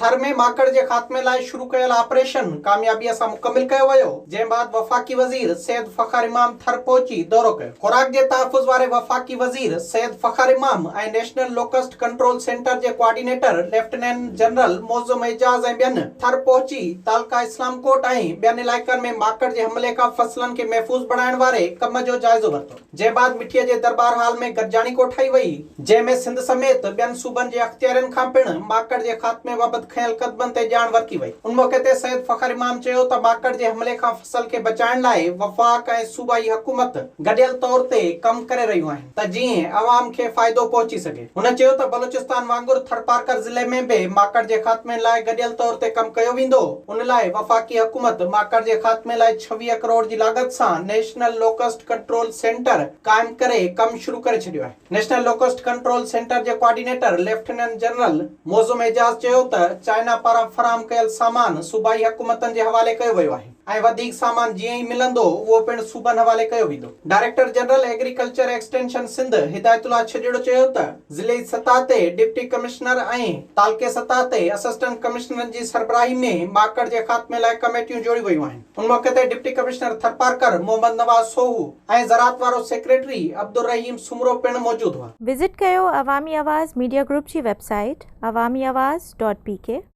ٿر ۾ ماڪڙ جي خاتمي لاء شروع ڪيل آپريشن ڪاميابيء سان مڪمل ڪيو ويو، جنهن بعد وفاقي وزير سيد فخر امام ٿر پهچي دورو ڪيو. خوراڪ جي تحفظ واري وفاقي وزير Syed Fakhar Imam ۽ national locust control centre جي coordinator lieutenant general Moazzam Ejaz ۽ ٻين ٿر پهچي تعلقه اسلام ڪوٽ ۽ ٻين علائقن ۾ ماڪڙ جي حملي کان فصلن کي محفوظ بڻائڻ واري ڪم جو جائزو ورتو. جنهن بعد مٺيء جي درٻار هال ۾ گڏجاڻي ڪوٺائي وئي، جنهن ۾ سنڌ سميت ٻين صوبن جي اختيارين کان پڻ ماڪڙ جي خاتمي بابت کنيل قدمن تي ڄاڻ ورتي وئي. ان موقعي تي سيد فخر امام چيو ته ماڪڙ جي حملي کان فصل کي بچائڻ لاء وفاق ۽ صوبائي حڪومت گڏيل طور تي ڪم ڪري رهيون آهن ته جيئن عوام کي فائدو پهچي سگهي. هن چيو ته بلوچستان وانگر ٿرپارڪر ضلعي ۾ به ماڪڙ جي خاتمي لاء گڏيل طور تي ڪم ڪيو ويندو، ان لاء وفاقي حڪومت ماڪڙ جي خاتمي لاء ڇويهه ڪروڙ جي لاڳت سان نيشنل لوڪسٽ ڪنٽرول سينٽر قائم ڪري ڪم شروع ڪري ڇڏيو آهي. نيشنل لوڪسٽ ڪنٽرول سينٽر جي coordinator lieutenant general Moazzam Ejaz چيو ته چائنا پاران فراهم ڪيل سامان صوبائي حڪومتن جي حوالي ڪيو ويو آهي، ۽ وڌيڪ سامان جيئن ئي ملندو اهو پڻ صوبن حوالي ڪيو ويندو. Director general agriculture extension Sindh Hidayatullah Chhajro چيو ته ضلعي سطح تي ڊپٽي ڪمشنر ۽ تعلقي سطح تي اسسٽنٽ ڪمشنرن جي سربراهي ۾ ماڪڙ جي خاتمي لاء ڪميٽيون جوڙيون ويون آهن ان موقعي تي ڊپٽي ڪمشنر ٿرپارڪر محمد نواز سوهو ۽ زراعت وارو سيڪريٽري عبدالرحيم سومرو پڻ موجود هئا. وزٽ ڪيو عوامي آواز ميڊيا گروپ جي website Awami Awaz dot P ڪي.